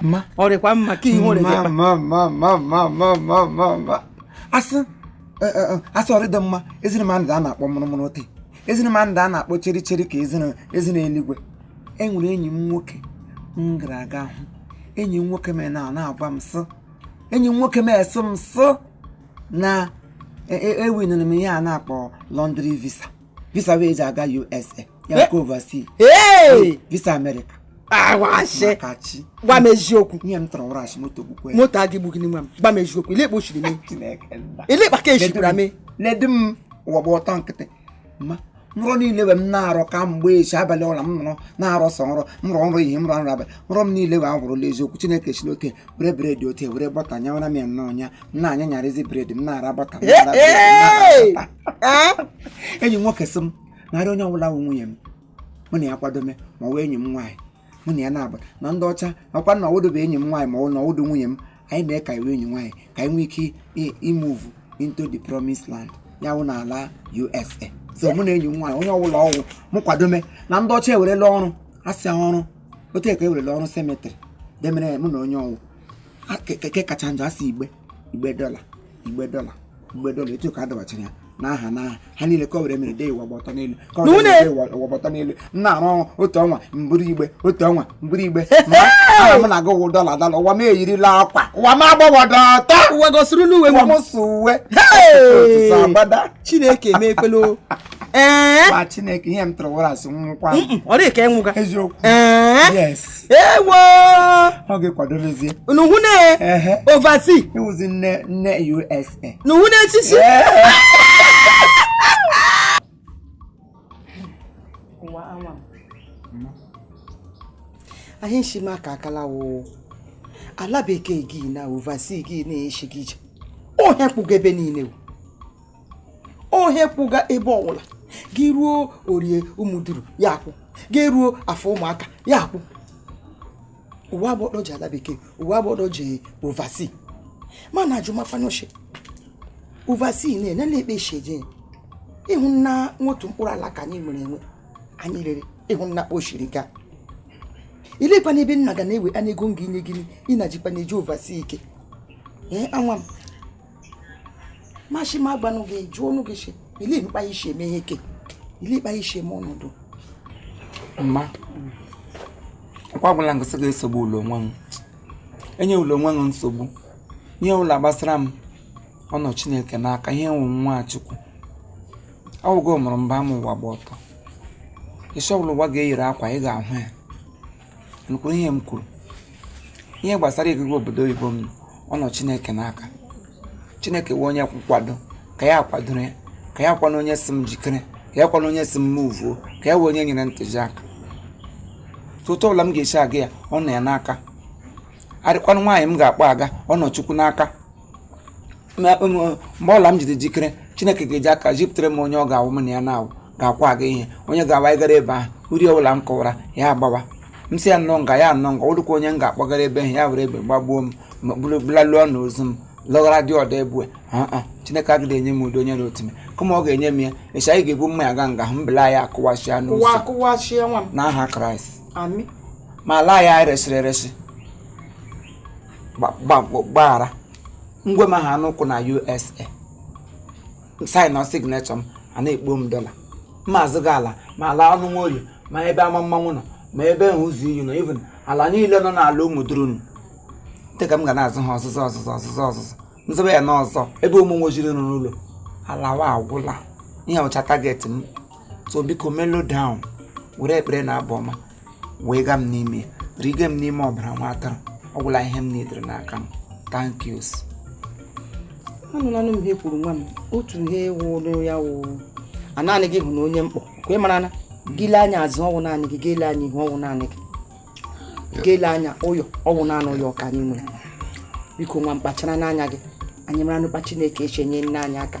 ma ọ dịkwa mma ka ihu asị asị ọrịdị mma eziri ma ndị a na-akpọ mụrụmụrụ otu eziri ma ndị a na-akpọ cheri cheri ka eziri eluigwe enwere enyi m nwoke m gara aga hụ enyi m nwoke m na-agwa m sị enyi m nwoke m esị m sị na ewiniri m ihe a na-akpọ lottery visa visa wee ji aga usa ya nke overseas Hey! visa amerịka Ọ wụ ashị! maka chi Gwa m eziokwu. ihe m tụrụ wụrụ ashị moto gbukwe Moto agaghị egbu gị nwa m. Gwa m eziokwu. Elee kpa o shiri mee. Chineke nna. Elee kpa ka echikwara m. ledu m ụwa gba ọtọ nkịtị nrọ niile we m na-arọ ka mgbe echi abalị ọla m nọrọ na-arọ sọ nrọ m rọ nrọ ihe m rọ nrọ abalị nrọ m niile we awụrụla eziokwu chineke si n'oke were bred ote were bọta nyawara m ya nnọọ ya m na-anya nyarịzi bred m na-ara bọta m na-ara bred, m na-ara bọta. enyi m nwoke sị m narị onye ọbụla wụ nwunye m mụ na ya kwadome ma ọ wụ enyi m nwaanyị mụ na ya na-aba na ndị ọcha akwa na ọ wụdụ bụ enyi m nwaanyị mana ọ wụdụ nwunye m anyị mee ka ọ wụ enyi nwaanyị ka anyị nwee ike imove into the promised land ya wụ n'ala USA so mụ na enyi m nwaanyị onye ọbụla ọ wụ m kwadome na ndị ọcha ewerela ọrụ asị ọrụ otu a ka ewerela ọrụ cemetery demere mụ na onye ọ wụ ke kacha njọ asị igbe igbe dọla igbe dọla igbe dọla etu ka a dọbachara ya n'aha n'aha ha niile ka o were mere dee ụwa gba ọtọ n'elu ka o were mere dee ụwa gba ọtọ n'elu m na-arụ ọrụ otu ọnwa m buru igbe otu ọnwa m buru igbe ma aha m na-aga ịwụ dọla dọla ụwa m eyirila akwa ụwa m agbawọdọ ọtọ ụwa gosirila uwe ụwa m m so uwe otu so agbada chineke emekwela o. ee ma chineke ihe m tụrụ wụrụ asị nwụkwa m. ọ dịghị ka ịnwụga eziokwu ee yes ewo ọ ga-ekwadobezie unu hụ na ehe oversea ịwụzi nne nne usa na hụ na echichi ụwa nwa m. anyị nshi ma ka akala woo ala bekee gị na oversea gị na-eshi gị ije ohe kwụga ebe niile o ohe kwụga ebe ọbụla gị ruo orie ụmụduru ya akwụ gị ruo afọ ụmụaka ya akwụ uwe agbọdọ ji ala bekee uwe agbọdọ ji oversea mana ajụmafanoshi oversea nna anyị elee kpa e shi eje ịhụna nwa otu mkpụrụ ala ka anyị nwere enwe anyị rere ịhụna kpa o shiri gaa eleekwanụ ebe nna ga na-ewe anya ego m ga-enye gị ị na-ajikwa na-eji oversea ike ee nwa m ma shi m gwanụ gị jụọ nụ gị shi ole kpa i shi eme ihe ke ole kpa i shi eme ọ na-adị mma ọkwa gwụla m gị sị gị esogbula onwe ụ enyela onwe ụ nsogbu ihe ọla gbasara m ọ nọ chineke n'aka ihe m wụ nwa chukwu ọ wụgo mụrụ mbe m ụwa gba ọtọ isi ọbụla ụwa ga-eyiri akwa ị ga-ahụ ya m kwuru ihe m kwuru ihe gbasara ịgaga obodo oyibo m ọ nọ chineke n'aka chineke wụ onye nkwado ka ya kwadoro ya ka ya kwanụ onye sị m jikere ka ya kwanụ onye sị m move o ka ya wụ onye nyere ntụziaka otu ọbụla m ga-esi aga ya ọ nọ ya n'aka adịkwanụ nwaanyị m ga-akpọ aga ọ nọ chukwu n'aka Ma- um, mgbe ọla m ji dị jikere chineke ga-eji aka jipụtara m onye ọ ga-awụ m na ya na-awụ ga-akwụ aga ihe onye ga-awụ anyị gara ebe ahụ uri ọbụla m kọwara ya agwa m sị ya nọọ nga ya anọ nga ọ dịkwa onye m ga-akpọgara ebe ahụ ya were egbe gbagbuo m ma bulu- bulaluo ọnụ ozu m lụghara di ọdọ ebue aa chineke agaghị enye m ụdị onye na otu m kama ọ ga-enye m ya echi anyị ga-ebu mma ya ga nga hụ mbela ya akụwasịa kụwa n'ụzọ kụwa chie nwa m n'aha kraịst amen ma ala ya anyị resịrị eresị gba- gba- gbaghara ngwe m ha n'ụkwụ na usa sign na signature m a na-ekpo m dọla m azụga ala ma ala ụmụ nwoye ma ebe ama mmanwụ nọ ma ebe ahụ ụzọ iyi nọ even ala niile nọ n'ala ụmụ durunu dịka m ga na-azụ ha ọzụzụ ọzụzụ ọzụzụ ọzụzụ nzebe ya n'ụzọ ebe ụmụ nwojiri nọ n'ụlọ alawa ọ gwụla ihe wụcha target m so biko mellow down were ekpere na abụ ọma wega m n'ime riga m n'ime ọbara nwa atụrụ ọ gwụla ihe m needịrị n'aka m thank you anụlanụ m ihe i kwuru nwa m otu ihe wụrụ ya wụ a naanị gị hụ na onye mkpọ ka ị mara na gị lee anya azụ ọ wụ naanị gị gị lee anya ihu ọ wụ naanị gị gị lee anya ụyọ ọ wụ naanị ụyọ ka anyị nwere biko nwa m kpacharanụ anya gị anyị mara n'ụkpa chineke shi nyere anyị aka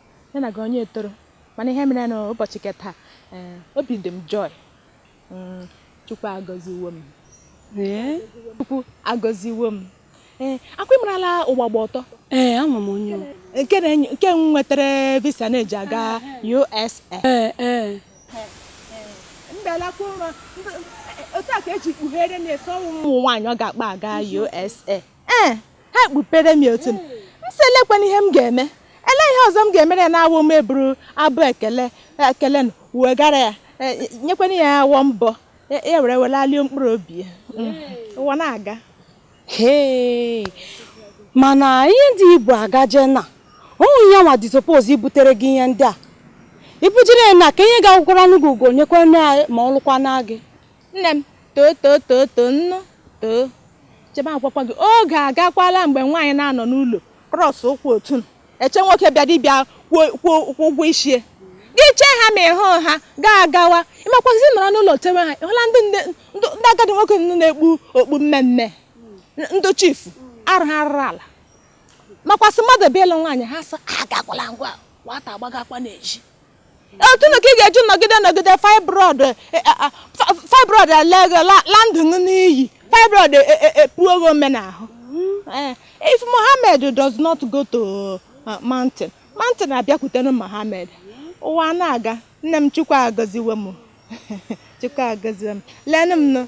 ya na gị onye etoro mana ihe mere na ụbọchị ke taa eh, obi dị m joy mm, chukwu agọziwo m chukwu agọziwo m ee eh, ọ kwa ị marala ụgbagba ọtọ ee ama m onye nke m nwetara visa na-eji aga USA mbelakwa ụra otu a ka eji kpughere na-asị ọ wụ mụ nwaanyị ọ ga-akpọ aga USA ee ha ekpupere m otu m m sị olekwanụ ihe m ga-eme ole ihe ọzọ m ga-emere ya na-awụ m eburu abụ ekele ekele na wegara ya e, nyekwana ya awọ mbọ ya e, e were welalie mkpụrụ obi ya mm, ụwa na-aga mana ihe dị ibu agaje na onwe ya nwa dị suppose ibutere gị ihe ndị a ibujere ya na ka ihe ga-agwụkwara n'ugwu ugo nyekwana ma ọ lụkwana gị nne m too too too too nnu too chee m agwakwa gị oge agakwala mgbe nwaanyị na-anọ n'ụlọ cross ụkwụ otu a eche nwoke bịadụ bịa kwụọ kwụọ kwụọ ụgwọ isi gị chee ha ma ị hụ ha gaa agawa ịmakwazi nọrọ n'ụlọ chewe ha ị hụla ndị nne ndị ndị agadi nwoke nọ na-ekpu okpu mmee mmee ndị chifu arụ ha rụrụ ala makwasị mmadụ bịa ịlụ nwaanyị ha sị agakwala ngwa nwata agbagakwa n'ezi otu na ka ị ga-eji nọgide nọgide fibroid eh, eh, ah, ah, fibroid alege la ndụ n'iyi fibroid epuo gị ome n'ahụ eh, if Mohammed does not go to uh, mountain mountain abịakwute nụ Mohammed ụwa na-aga nne m chukwu agọziwe m chukwu agọziwe m lenụ m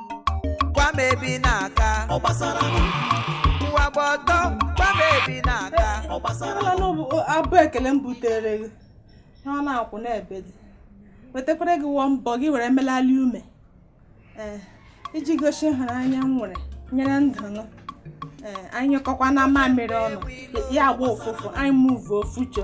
gwa m ebe ị na-aga ọ gbasara m ụwa gba ọtọ gwa m ebe ị na-aga ọ gbasara m Ala n'obu abụ ekele m butere gị ihe ọ na-akwụ n'ebe dị wetakwara gị wọ mbọ gị were melali ume ee iji gosi ịhụnanya m nwere nyere ndụ nụ ee anyị nyụkọkwa na mamịrị ọnụ ya agba ụfụfụ anyị move ofucho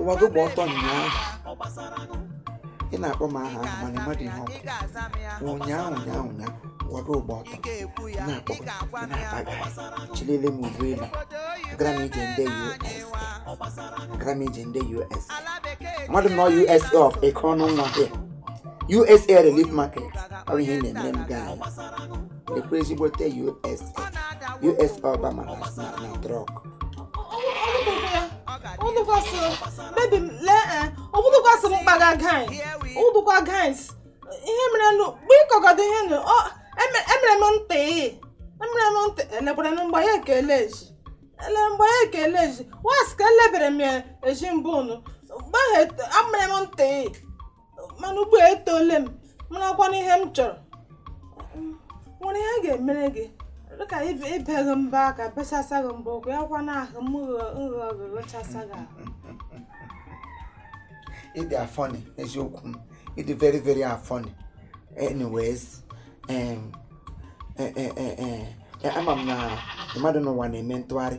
ụwa gị gba ọtọ ụnyaahụ ị na-akpọ m aha ahụ mana m madị ihe ọ bụ ụnyaahụ ụnyaahụ ụnyaahụ ụwa gị gba ọtọ na-akpọ na-akpaga chilele m ubu elu gara m ije ndị us gara m ije ndị us mmadụ nọ usa of Ekeọnụnwa usa relief market ọ bụ ihe na-eme m gaa ekwe ezigbote us us Obama na na Trump ọbụdụkwasị m mkpaga guys ụdụkwa guys ihe mere nụ mgbe ịkọgọdọ ihe nụ ọ eme- emere m ntị emere m ntị elekwara na mgbe ya ekele eji ele mgbe ya ekele eji was ka elebere m ya eji mbụ nụ mgbe ahụ amere m ntị mana ugbu a etole m marakwana ihe m chọrọ nwere ihe a ga-emere gị dịka ibe gị mbọ aka bechasa gị mbọ ụkwụ ya kwa na ahụ m nrọ gị ghụchasa gị ahụ ị dị funny eziokwu m ị dị very very funny anyways ama m na mmadụ n'ụwa na-eme ntụgharị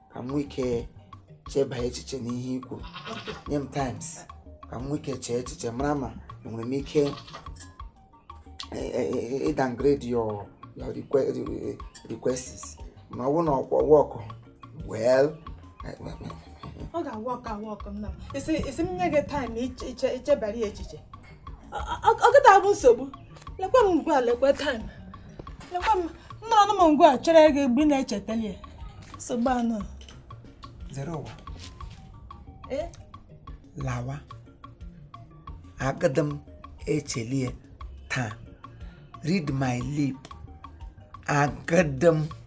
ka m nwee ike cheba echiche n'ihe i kwuru nye m times ka m nwee ike chee echiche mara ma enwere m ike ịdowngrade your your requests ma ọ bụrụ na ọ ga-awork well ọ ga-awork awork nna m isi m nye gị time ichebara ya echiche ọ gịta bụ nsogbu lekwa m ngwa lekwa taim lekwa m na anọ m ngwa chere gị mgbe ị na-echetali ya nsogbu anọ zere ụwa eh? lawa agada m echeli ya taa read my lip agada m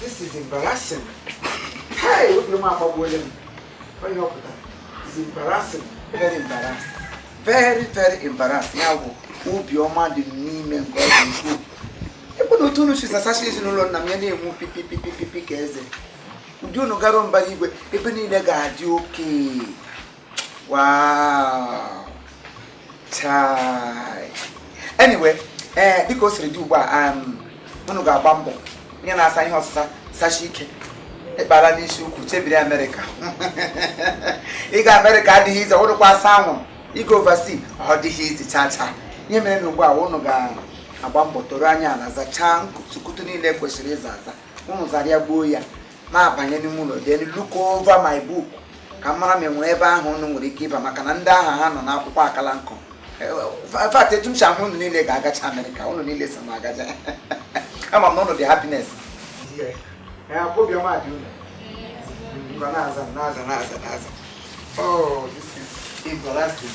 This is embarrassing. Hey, obi m agbagbuola m. Onye ọ pụtara? It's embarrassing. Very embarrassed. Very, very embarrassed. Ya bụ obiọma dị n'ime nke ọ dị ukwuu. Ebe na otu unu si zasacha ezinụlọ nna m ya na-enwu pipi pipi pipi ka eze. Ụdị unu garuo mbara igwe, ebe niile ga-adị okay. Wow. Chai. Anyway, eh, dịka o siri dị ugbu a um, unu ga-agba mbọ onye na-asa ihe ọsịsa sasie ike ịkpara n'isi ukwu chebiri amerịka ịga amerịka adịghị easy ụrụkwa asa anwụ ịga oversea ọ dịghị easy chaa chaa ihe mere na ugbu a unu ga-agba mbọ toro anya ala zachaa nkutukutu niile kwesịrị ịza aza unu zara ya gbuo ya m abanye n'ime ụlọ then look over my book ka m mara ma enwere ebe aha ụnụ nwere ike ịba maka na ndị aha ha nọ n'akwụkwọ akala nkọ in fact etu m si ahụ ụnụ niile ga-agacha amerịka ụnụ niile so m agacha ama m na ụnụ dị happiness obiọma dị ụnụ na-aza na-aza na-aza na-aza oh this is embarrassing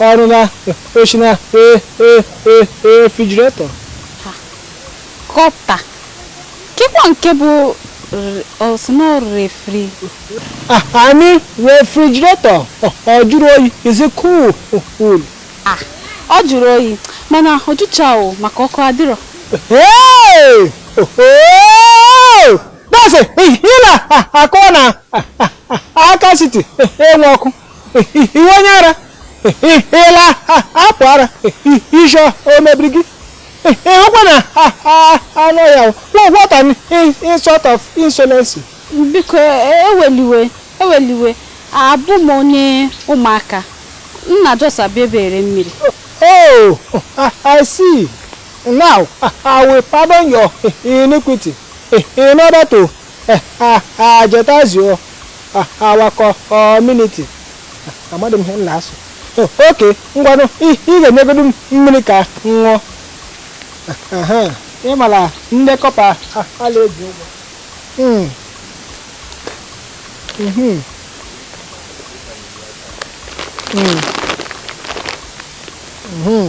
Ọrụ na o shi na refrigerator. Kọpa. Kekwa nke bụ o si na refri. I mean refrigerator ọ jụrụ oyi is it cool? Ah, ọ jụrụ oyi mana ọ jụcharọ maka ọkụ adịrọ. Hey! Oh! That's it. Ị na-akọ na aka siti enwe ọkụ. ị wụ onye ara ị la-apụ ara isi o mebiri gị ị hụkwa na anọ ya what an insult of insolence biko ewele iwe ewele iwe abụ m onye ụmụaka nna just abịa ebere mmiri oh i see now i will pardon your iniquity in order to Eh, ah, ah, jeopardize, ah, our community. Ah, Amadị m ihe ị na-asụ. Oh, Okay, ngwanụ, ị ị ga-enyegodu m mmiri ka m ṅụọ. Ah, aha, Ị mara ndị kọpa ah, a na-eji ụgwọ. Mm. Mhm. Mm. Mhm.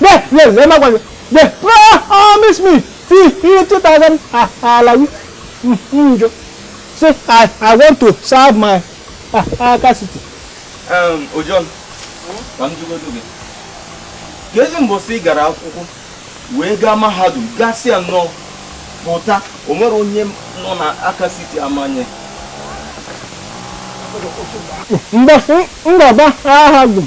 There, there, there, my wife. There. Ah, ah, promise me. See, you two thousand. Alawi. Mm, mm, jo. See, I, I want to serve my Aka City. Um, Ojiọnụ, ka m jụgodu gị. Kezi mbọsị ị gara akwụkwọ wee gaa mahadum gasịa nnọọ pụta o nwere onye nọ na Aka City amaghị mbọsị m gaba mahadum.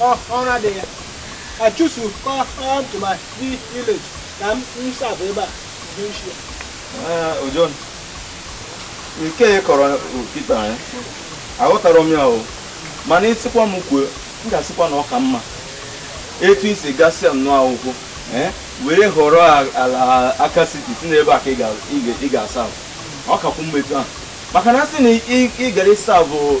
Ọ ọrụ adịghị ya. I choose to come come to my vi- village ka m m serve ebe a. This year. Ee, Ojiọnụ, nke ị kọrọ kịta ya aghọtara m ya o mana ị sịkwa m kwuo m ga-asịkwa na ọ ka mma etu i si gasịa nnọọ akwụkwọ ee, were họrọ a- ala Aka City sị n'ebe a ka ị ga- ị ga- ị ga-serve. ọ kakwu mma etu ahụ maka na a sị na ị- ị gara ị serve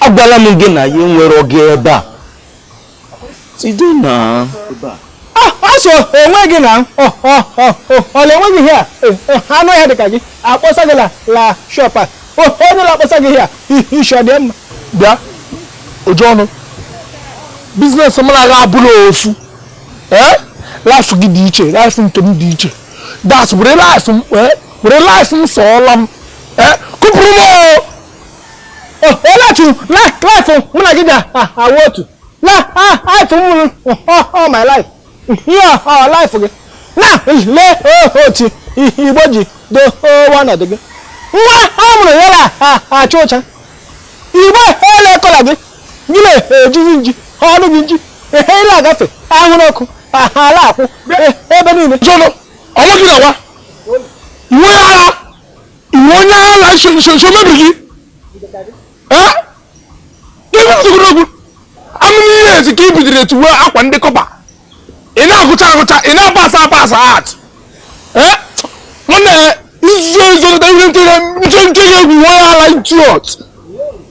agwala m gị na ya enwere oge ebe a site na asọ onwe gị na ọla enweghị ihe a anụ ya dịka gị akpọsa gị la shọp a onye ụlọ akpọsa gị ihe a ishọ dị mma bịa Ojiọnụ biznes mụ na gị abụrọ ofu ee laịfụ gị dị iche laịfụ nke m dị iche das were laịfụ m sọọla m kụpụrụ m olee otu laịfụ mụ na gị ga-awụ otu laịfụ m all my life ihe ọ laịfụ gị na lee otu igbo ji doo ọnọdụ gị nwa a mụrụ ya na-acha ụcha igbo ele kọla gị gị na-ejizi nji ọnụ gị nji ehe ile agafe ahụrụ ọkụ ala akwụ ebe niile Ojiọnụ ọ wụ gị na nwa nwa ara ị wụ onye ala nso nso nso mebiri gị ee ibe nsogbu n'okwu anụ n'ihe ezi ka i bidoro etu wee akwa ndị kọpa ị na-agụcha agụcha ị na-apasa apasa out ee nwanne izuzo izo ihe nkiri nche nche egwu onye ala idiot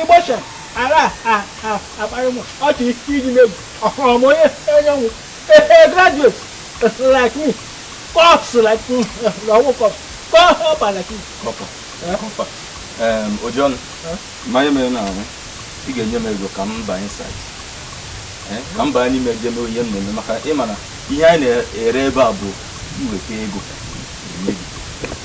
ịgbọcha ara akparị m ọchị iji megwu ọhụrụ m onye enyenwu graduate like me corps like me na ọ wụ corps kọpa like me kọpa kọpa ojiọnụ mmanya mere na ahụ ị ga-enye m ego ka m baa inside ka m baa n'ime je mee ihe m na-eme maka ị ma na ihe anyị na-ere ebe a bụ iweta ego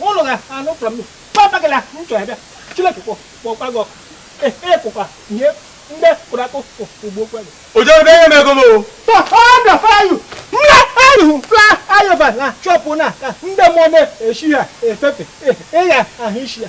ụlọ ga anụ from me papa gị na m chọrọ bịa chineke kpọ kpọkwa gị ọkụ ịkụkwa nye ndị kụrụ akụ ugbo kwa gị ojerebe ihe mego m o thunder fire you nne ayu fla ayọba na chọpụ na ka ndị mmụọ na-eshi ha efefe ịgha ahụ isi ya